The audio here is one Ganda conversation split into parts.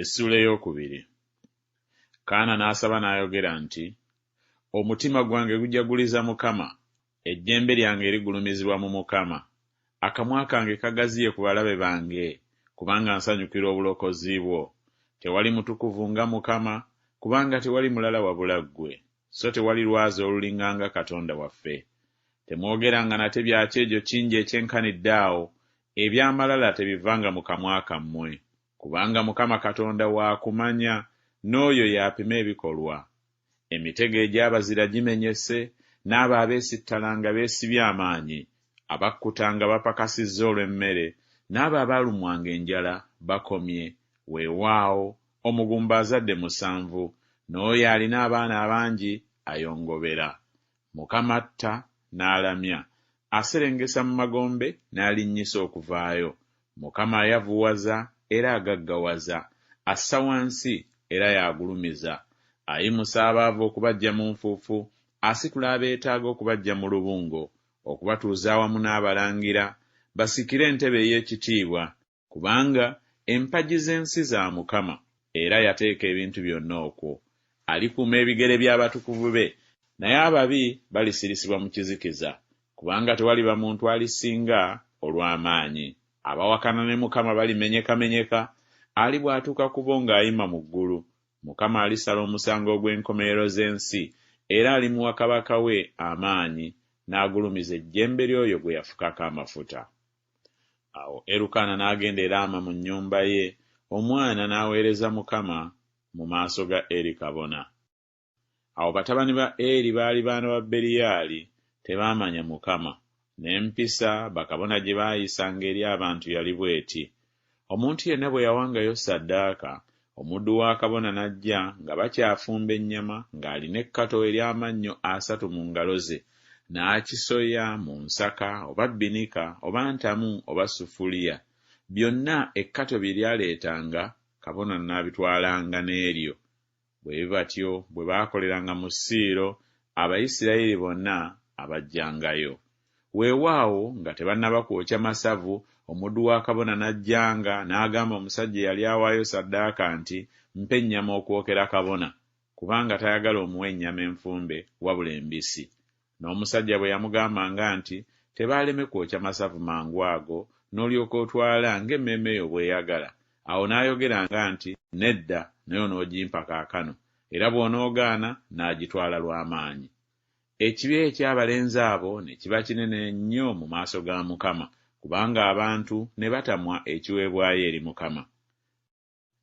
Essuula ey'okubiri. Kaana n'asaba n'ayogera nti, Omutima gwange gujaguliza Mukama, ejjembe lyange ligulumizibwa mu Mukama, akamwa kange kagaziye ku balabe bange, kubanga nsanyukira obulokozi bwo. Tewali mutukuvu nga Mukama, kubanga tewali mulala wabula ggwe, so tewali lwazi olulinganga Katonda waffe. Temwogeranga nate bya kyejo kingi ekyenkanidde awo, eby'amalala tebivanga mu kamwa kammwe. Kubanga Mukama Katonda wa kumanya, n'oyo y'apima ebikolwa. Emitego egy'abazira gimenyese, n'abo abeesittala nga beesibye amaanyi, abakkuta nga bapakasizza olw'emmere, n'abo abaalumwanga enjala bakomye. Weewaawo, omugumba azadde musanvu, n'oyo alina abaana abangi ayongobera. Mukama atta n'alamya, aserengesa mu magombe n'alinnyisa okuvaayo, Mukama ayavuwaza era agaggawaza, assa wansi era y'agulumiza, ayimusa abaavu okubaggya mu nfuufu, asitula abeetaaga okubaggya mu lubungo, okubatuuza awamu n'abalangira, basikire entebe ey'ekitiibwa. kubanga empagi z'ensi za Mukama, era yateeka ebintu byonna okwo. Alikuuma ebigere by'abatukuvu be, naye ababi balisirisibwa mu kizikiza, kubanga tewaliba muntu alisinga olw'amaanyi. Abawakana ne Mukama balimenyekamenyeka, alibwatuka ku bo ng'ayima mu ggulu. Mukama alisala omusango ogw'enkomerero z'ensi, era alimuwa kabaka we amaanyi, n'agulumiza ejjembe ly'oyo gwe yafukako amafuta. Awo Erukaana n'agenda e Laama mu nnyumba ye, omwana n'aweereza Mukama mu maaso ga Eri kabona. Awo batabani ba Eri baali baana ba Beliyaali, tebaamanya Mukama, n'empisa bakabona gye baayisanga eri abantu yali bw'eti, Omuntu yenna bwe yawangayo ssaddaaka, omuddu wa kabona n'ajja nga bakyafumba ennyama ng'alina ekkato ery'amannyo asatu mu ngalo ze, n'akisoya mu nsaka oba bbinika oba ntamu oba sufuliya, byonna ekkato bye lyaleetanga, kabona n'abitwalanga n'eryo Bwe batyo bwe baakoleranga mu Siiro, Abayisirayiri bonna abajjangayo. Weewaawo, nga tebannaba kwokya masavu, omuddu wa kabona n'ajjanga, n'agamba omusajja eyali awaayo ssaddaaka nti, Mpa ennyama okwokera kabona, kubanga tayagala omuwa ennyama enfumbe, wabula embisi. N'omusajja bwe yamugambanga nti, Tebaaleme kwokya masavu mangu ago, n'olyoka otwala ng'emmeeme yo bw'eyagala? Awo n'ayogeranga nti, Nedda, naye onoogimpa kaakano. Era bw'onoogaana, nnaagitwala lwa maanyi. Ekibi eky'abalenzi abo ne kiba kinene nnyo mu maaso ga Mukama, kubanga abantu ne batamwa ekiweebwayo eri Mukama.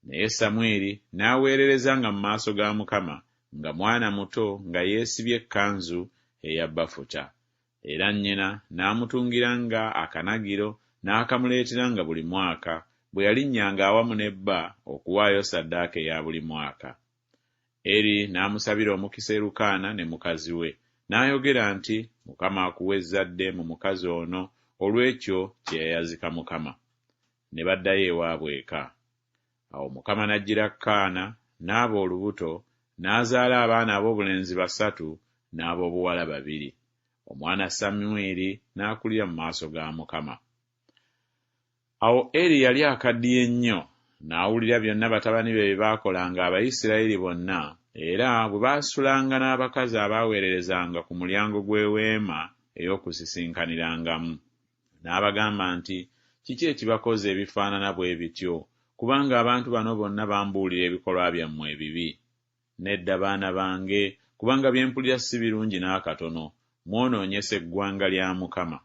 Naye Samwiri n'aweerereza nga mu maaso ga Mukama nga mwana muto nga yeesibye ekkanzu eya bafuta. Era nnyina n'amutungira nga akanagiro n'akamuleetera nga buli mwaka bwe yalinnyanga awamu ne bba okuwaayo ssaddaaka eya buli mwaka. Eri n'amusabira omukisa Erukaana ne mukazi we, n'ayogera nti, Mukama akuwe ezzadde mu mukazi ono olw'ekyo kye yayazika Mukama. ne baddayo ewaabwe eka. Awo Mukama n'ajjira Kaana, n'aba olubuto, n'azaala abaana ab'obulenzi basatu n'ab'obuwala babiri. Omwana Samwiri n'akulira mu maaso ga Mukama. Awo Eli yali akaddiye nnyo, n'awulira byonna batabani be bye baakolanga Abayisirayiri bonna, era bwe baasulanga n'abakazi abaaweererezanga ku mulyango gw'Eweema ey'Okusisinkanirangamu. N'abagamba nti, Kiki ekibakoza ebifaanana bwe bityo? Kubanga abantu bano bonna bambuulira ebikolwa byammwe ebibi. Nedda, baana bange, kubanga bye mpulira si birungi n'akatono. Mwonoonyesa eggwanga lya Mukama.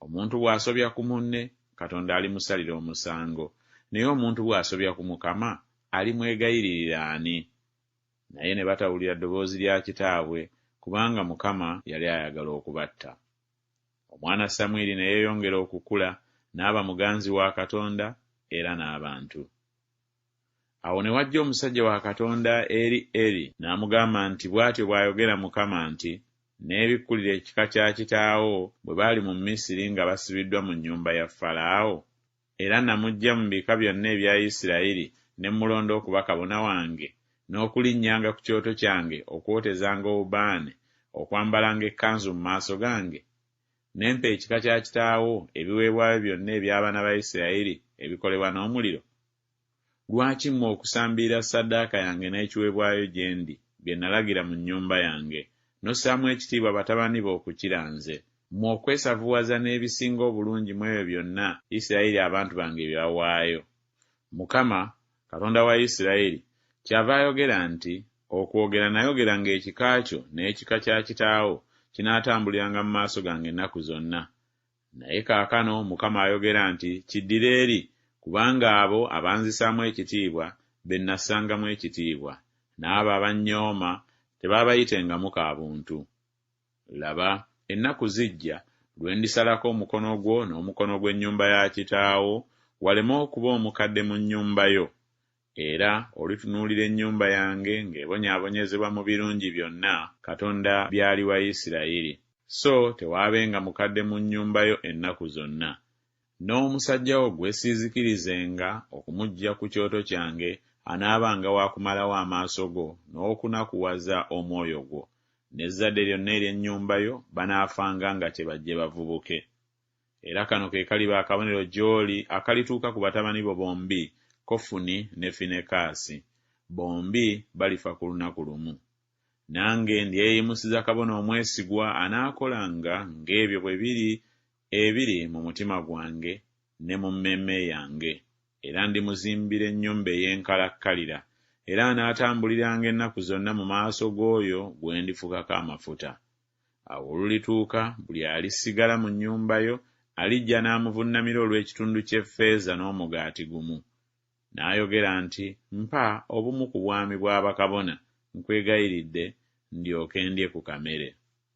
Omuntu bw'asobya ku munne, Katonda alimusalira omusango. Naye omuntu bw'asobya ku Mukama, alimwegayiririra ani? Naye ne batawulira ddoboozi lya kitaabwe, kubanga Mukama yali ayagala okubatta. Omwana Samwiri ne yeeyongera okukula n'aba muganzi wa Katonda era n'abantu. Awo ne wajja omusajja wa Katonda eri Eri n'amugamba nti, Bw'atyo bw'ayogera Mukama nti, Nneebikkulire ekika kya kitaawo bwe baali mu Misiri nga basibiddwa mu nnyumba ya Falaawo? era namuggya mu bika byonna ebya Isirayiri ne mmulonda okuba kabona wange, n'okulinnyanga ku kyoto kyange okwotezanga obubaane, okwambalanga ekkanzu mu maaso gange? Ne mpa ekika kya kitaawo ebiweebwayo byonna eby'abaana ba Isirayiri ebikolebwa n'omuliro? Lwaki mmwe okusambiira ssaddaaka yange n'ekiweebwayo gye ndi, bye nalagira mu nnyumba yange, n'ossaamu ekitiibwa batabani bo okukira nze, mmwe okwesavuwaza n'ebisinga obulungi mu ebyo byonna Yisirayeli abantu bange bye bawaayo? Mukama, Katonda wa Yisirayeli, kyava ayogera nti, Okwogera nayogera ng'ekika kyo n'ekika kya kitaawo kinaatambuliranga mu maaso gange ennaku zonna, Naye kaakano Mukama ayogera nti, Kiddire eri, kubanga abo abanzisaamu ekitiibwa be nnassangamu ekitiibwa, n'abo abannyooma tebaabayitengamu ka buntu. Laba, ennaku zijja, lwe ndisalako omukono gwo n'omukono gw'ennyumba ya kitaawo, waleme okuba omukadde mu nnyumba yo, Era olitunuulira ennyumba yange ng'ebonyaabonyezebwa mu birungi byonna Katonda by'aliwa Isirayiri, so tewaabenga mukadde mu nnyumba yo ennaku zonna. N'omusajja wo gwe siizikirizenga okumuggya ku kyoto kyange anaabanga wa kumalawo amaaso go n'okunakuwaza omwoyo gwo. N'ezzadde lyonna ery'ennyumba yo banaafanga nga kye bajje bavubuke. Era kano ke kaliba akabonero gy'oli akalituuka ku batabani bo bombi, Kofuni ne Finekaasi. Bombi balifa ku lunaku lumu. Nange ndyeyimusiza kabona omwesigwa anaakolanga ng'ebyo bwe biri ebiri mu mutima gwange ne mu mmeeme yange, era ndimuzimbira ennyumba ey'enkalakkalira, era anaatambuliranga ennaku zonna mu maaso g'oyo gwe ndifukako amafuta. Awo olulituuka, buli alisigala mu nnyumba yo alijja n'amuvunnamira olw'ekitundu ky'effeeza n'omugaati gumu. N'ayogera nti, Mpa obumu ku bwami bwa bakabona, nkwegayiridde, ndyoke ndye ku kamere.